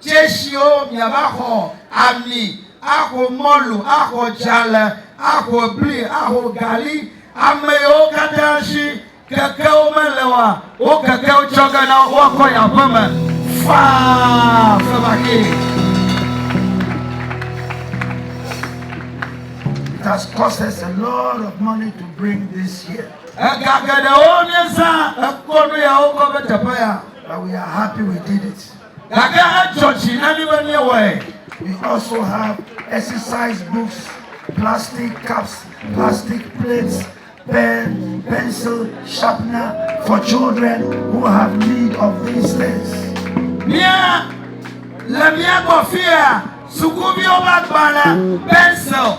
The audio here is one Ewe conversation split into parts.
Tsɛshiwo, miava xɔ ami, axo mɔlu, axɔ dzalẽ, axɔ bli, axo gali. Ameyiwo katã shi kekewo mele oa, wo kekewo tsɔ ge na wo, woakɔ yi aƒeme faa fevakee. It has cost us a lot of money to bring this here. Ega geɖewo míezã ekɔ nuyawo kɔ va teƒe ya. But we are happy we did it. Gake edzɔ dzi na mí be míewɔe. We also have exercise books, plastic cups, plastic plates, pen, pencil, sharpener for children who have need of these things. Mía le mía gbɔ fia sukuviwo ƒe agbalẽ, pencil,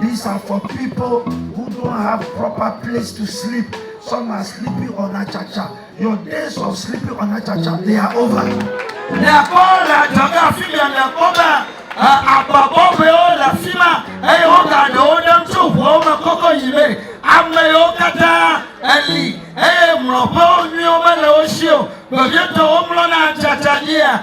These are for people who don't have proper place to sleep. Some are sleeping on achacha. Your days of sleeping on achacha, they are over. Le akpɔ le adzɔge afi bia le akpɔ be agba bɔbɔewo le afi ma eye woga ɖewo ɖem tso ʋuawo me kɔkɔ yi me. Ame yiwo katã eli eye mlɔƒewo nyuiwo mele wo si o. Vevietɔ womlɔna achacha dzia.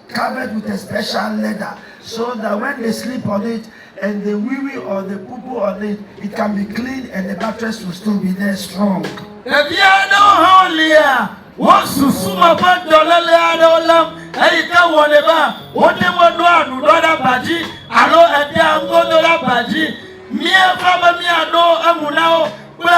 covered with a special leather so that when they sleep on it and they wee wee or they poo poo on it, it can be clean and the mattress will still be there strong. Ɖevi aɖewo hã wolia wo susu me ƒe dɔléle aɖewo lém eyi ke wɔnɛ be wote ŋu ɖoa ɖuɖɔ ɖe aba dzi alo edea nugodo ɖe aba dzi. Míevɔ̃ be míaɖo eŋu na wo kple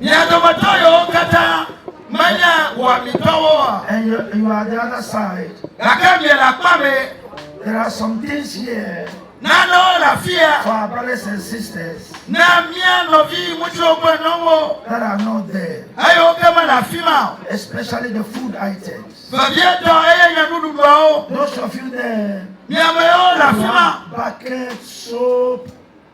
Mia dometɔ yewo katã menye wɔamitɔwo oa? And you, you are the other side. Gake miele akpa mɛ. There are some things here. Nanewo le afia. For our brothers and sisters. Na mia nɔvi ŋutsuwo kple nyɔnuwo. That are not there. Eyo ke mele afi ma o. Especially the food items. Vevietɔ eye nye nuɖuɖuawo. Those of you there. Miamewo le afi ma. Bucket soap.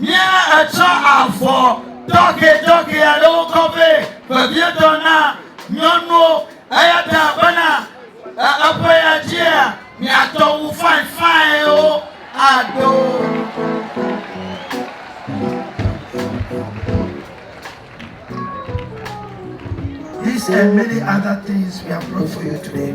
Nye etsɔ avɔ tɔxɛtɔxɛ aɖewo kɔ vɛ vevietɔ na nyɔnuwo, eya ta bena eƒe ya dzia miatɔ wu fainfainwo aɖo. These and many other things we have brought for you today.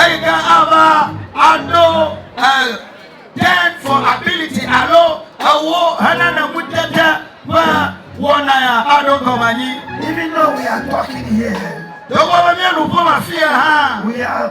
Eyi ke ava aɖo ten for ability alo ewo henana ŋutete ƒe wɔna ya aɖo gɔme anyi. Even though we are talking here. Togbɔ be míenu ƒom afia hã. We are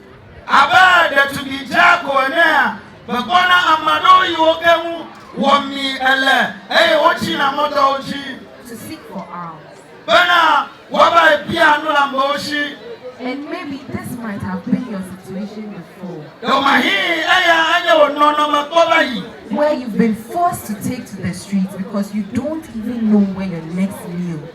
Abe ɖetugbui dzeako enea, mekpɔna ame aɖewo yi wo ke ŋu wɔmi ele eye wotsina mɔ dɔ wo dzi bena woavae bia nu le amewo si. Ɖewòmahi eya anye wò nɔnɔme kpɔ va yi. Where you've been forced to take to the streets because you don't even know where your next meal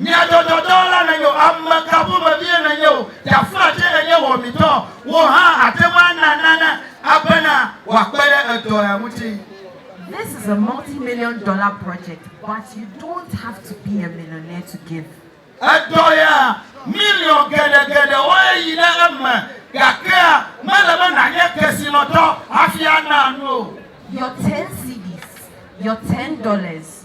Nyadzɔdzɔdɔ la nènyo, ame ka ƒomevie nènye o, ɖaflatse nènye wɔmitɔ, wò hã àte ŋu ana nane abena wòakpe ɖe edɔ ya ŋuti. This is a multi million dollar project but you don't have to be a millionaire to give. Edɔ ya, miliɔn geɖe geɖewoe yi ɖe eme gake mele be nànye kesinɔtɔ hafi ana nu o. Your ten cedis, your ten dollars,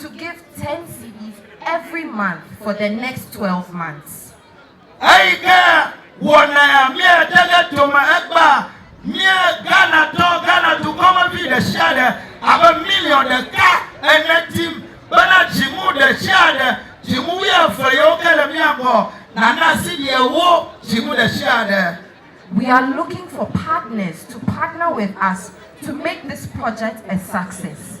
to give ten cedis every month for the next twelve months. Eyi ke wɔna ya míate ɖe dome egbea, míe Ghanatɔ, Ghana dukɔmevi ɖesiaɖe abe miliɔn ɖeka ene dim bena dzinu ɖesiaɖe, dzinu wuieve yiwo ke le mía gbɔ, nana cedi ewo dzinu ɖesiaɖe. We are looking for partners to partner with us to make this project a success.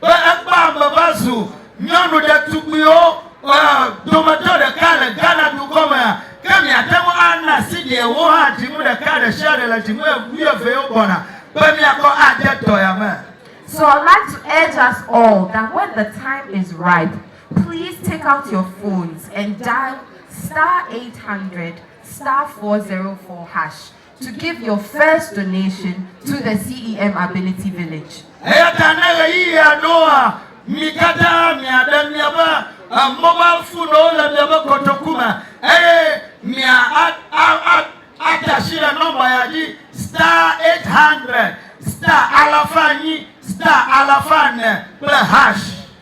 be ekpɔ ame va zu nyɔnu ɖetugbuiwo dometɔ ɖeka le Ghana dukɔ me, ke miate ŋu ana asi ɖee wo hã dzinu ɖeka ɖe sia ɖe le dzinu wuievewo gbɔna be miakɔ ade dɔya me. So I'd like to urge us all that when the time is ripe, please take out your phones and dial star eight hundred star four zero four hash to give your first donation to the CEM Ability Village. Eya ta ne ɣeyiɣia ɖoa, mi katã miaɖe miaƒe mobile phonewo le miaƒe kotoku me eye mia a a a ade asi ɖe nɔmba ya dzi star 800 star alafa enyi star alafa ene kple hash.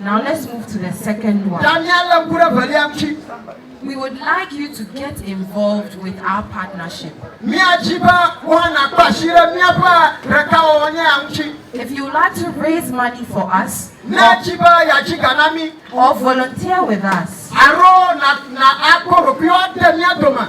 Now let's move to the second one. Ta míalé ŋku ɖe evelia ŋuti. We would like you to get involved with our partnership. Míadi be woanakpe asi ɖe míaƒe ɖekawɔwɔ nya ya ŋuti. If you would like to raise money for us Míadi be yeadzi ga na mí or volunteer with us, alo na na akpɔ ɖokuiwò ade mía dome.